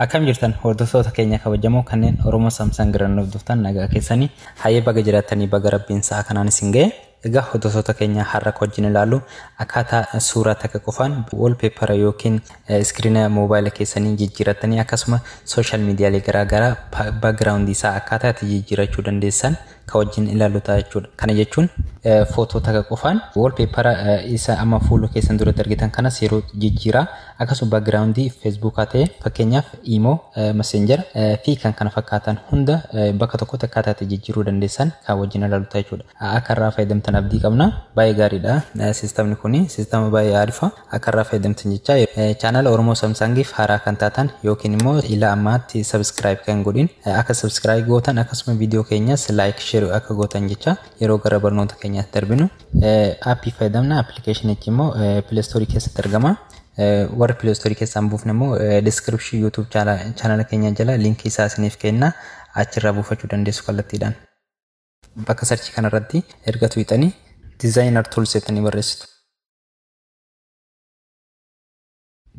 Akkam jirtan hordoftoota keenya kabajamoo kanneen Oromoo Samsung irraa nuuf dhuftan nagaa keessanii hayyee baga jiraattanii baga rabbiin sa'a kanaan isin ga'e. Egaa hordoftota keenya har'a akka wajjin ilaallu akkaataa suuraa takka qofaan wallpaper yookiin iskiriina moobaayila keessanii jijjiirattanii akkasuma sooshaal miidiyaalee garaa garaa background isaa akkaataa itti jijjiirachuu dandeessan kan wajjin ilaallu ta'a jechuudha. Kana jechuun footoo takka qofaan wallpaper isa amma fuula keessan duratti argitan kanas yeroo jijjiiraa Akkasuma background Facebook haa ta'e fakkeenyaaf imo, messenger fi kan kana fakkaatan hunda bakka tokkotti akkaataa itti jijjiiruu dandeessan kan wajjin ilaalu ta'a jechuudha. Akka irraa fayyadamtan abdii qabna. Baay'ee gaariidha. Sistamni kun sistama baay'ee arifa. Akka irraa fayyadamtan jecha chaanala Oromoo Samsangiif haaraa kan taatan yookiin immoo ilaa ammaatti subscribe kan godhin akka subscribe gootan akkasuma viidiyoo keenyas like share akka gootan jecha yeroo gara barnoota keenyaatti darbinu. Aappii fayyadamna appilikeeshinichi immoo pileestoorii keessatti argama. Warri pileestoorii keessaan buufne immoo diskiripshii yuutuub chaanala keenya jala liinkii isaa isiniif kenna achirraa buufachuu dandeessu kallattiidhaan. Bakka sarchii kanarratti erga tuqxanii dizaayinar tuuls jettanii barreessitu.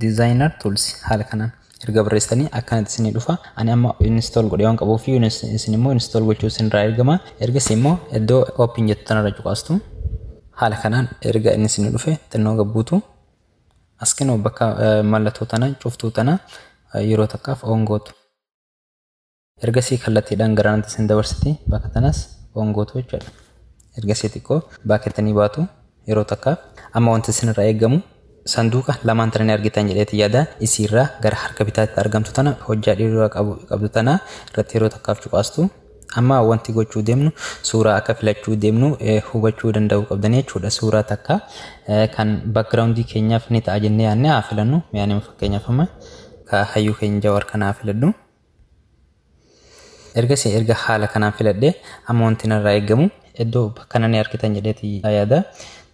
Designer Tools haala kanaan erga barreessitanii akkanatti isinii dhufa. Ani amma install godhee waan qabuuf isin immoo install gochuu isinirraa eegama. Ergasii immoo iddoo open jettu tanarra cuqaastu. Haala kanaan erga inni isinii dhufe xinnoo gabbuutu. As kennu bakka mallattoo tana cuftuu tana yeroo takkaaf on gootu. Ergasii kallattiidhaan gara kanatti isin dabarsiti. Bakka tanas on gootu jechuudha. Ergasii xiqqoo baakettanii baatu yeroo takkaaf. Amma wanti isinirraa eegamu sanduuqa lamaan tana ni argitan jedheeti yaada. Isiirraa gara harka bitaatti argamtu tana hojjaa dhiirraa qabdu tana irratti yeroo takkaaf cuqaastu. Amma wanti gochuu deemnu suuraa akka filachuu deemnu hubachuu danda'uu qabdanii jechuudha. Suuraa takka kan backgroundii keenyaaf ni ta'a jennee yaadne haa filannu. Mi'aanima fakkeenyaaf amma ka hayyuu keenya jawaar kana haa filadhu. Ergasii erga haala kanaan filadhee amma wanti narraa eegamu iddoo bakka nani harkitan jedheeti yaada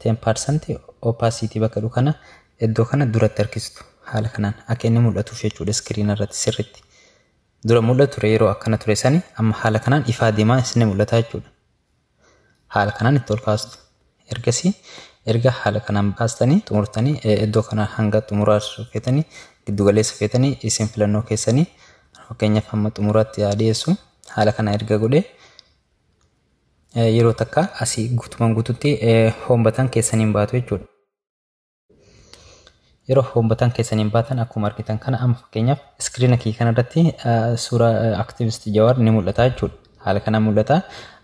10% opacity bakka jedhu kana iddoo kana duratti harkistu haala kanaan akka inni mul'atuuf jechuudha iskiriina irratti sirritti. Dura mul'atu ture yeroo akkana ture sani amma haala kanaan ifaa deemaa isin mul'ata jechuudha. haala kanaan itti ol kaastu. Ergasii erga haala kanaan baastanii xumurtanii iddoo kana hanga xumuraa feetanii giddu galeessa feetanii isin filannoo keessanii fakkeenyaaf hamma xumuraatti haa dhiyeessu. Haala kana erga godhee yeroo takka asii guutumaan guututti home button keessaniin baatu jechuudha. yeroo home button keessaniin baatan akkuma argitan kana amma fakkeenyaaf iskiriina kee kanarratti suuraa activist jawaar ni mul'ata jechuudha. Haala kana mul'ata.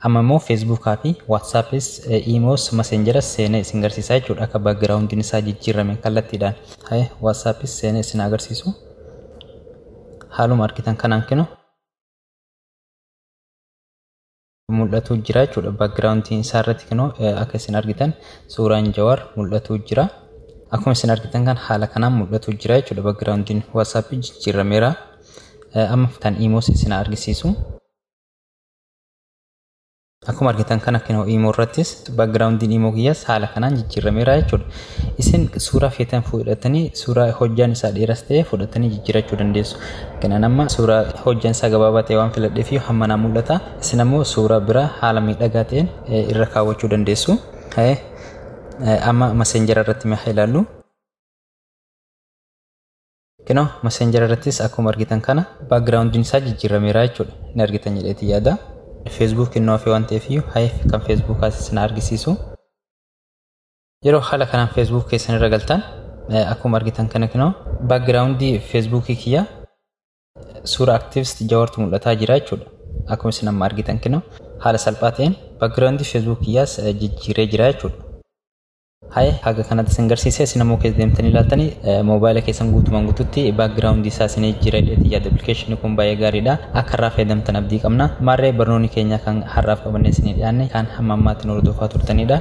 Amma immoo feesbuukaa fi waatsaappis iimoos maseenjaras seenee isin agarsiisa jechuudha akka baagiraawundiin isaa jijjiirame kallattiidhaan. Haye waatsaappis seenee isin agarsiisu. Haaluma argitan kanaan kinu. mul'atu jira jechuudha. Backgroundtiin isaa irratti kunoo akka isin argitan suuraan Jawaar mul'atu jira. Akkuma isin argitan kan haala kanaan mul'atu jira jechuudha. Backgroundtiin WhatsApp jijjiirameera. Amma kan iimoos isin argisiisu. Akkuma argitan kana kunoo iimoo irrattis backgroundtiin iimoo kiyyaas haala kanaan jijjiirameera jechuudha. Isin suuraa feetan fudhatanii suuraa hojjaan isaa dheeras ta'e fudhatanii jijjiirachuu dandeessu. Kanaan amma suuraa hojjaan isaa gabaabaa ta'e waan filadheef hamma naa mul'ata. Isin ammoo suuraa biraa haala miidhagaa ta'een irra kaawwachuu dandeessu. Amma maseenjara irratti mee haa ilaallu. Kunoo maseenjara irrattis akkuma argitan kana baakgiraawundiin isaa jijjiirameera jechuudha. Ni argitan jedheeti yaada. Feesbuuk innoo hafee waan ta'eef iyyuu kan feesbuukaas isin argisiisu. Yeroo haala kanaan Facebook keessan irra galtan akkuma argitan kana kinoo background Facebook kiyya suura activist jawartu mul'ataa jira jechuudha. Akkuma isin amma argitan kinoo haala salphaa ta'een background Facebook kiyyaas jijjiiree jira jechuudha. Haye haga kanatti isin garsiise isin ammoo keessa deemtanii ilaaltanii moobaayila keessan guutumaan guututti background isaa isin jijjiiree dheetii yaada appilikeeshinii kun baay'ee gaariidha. Akka irraa fayyadamtan abdii qabna. Maarree barnoonni keenya kan har'aaf qabannee isin dhiyaanne kan hamma ammaatti nu hordofaa turtanidha.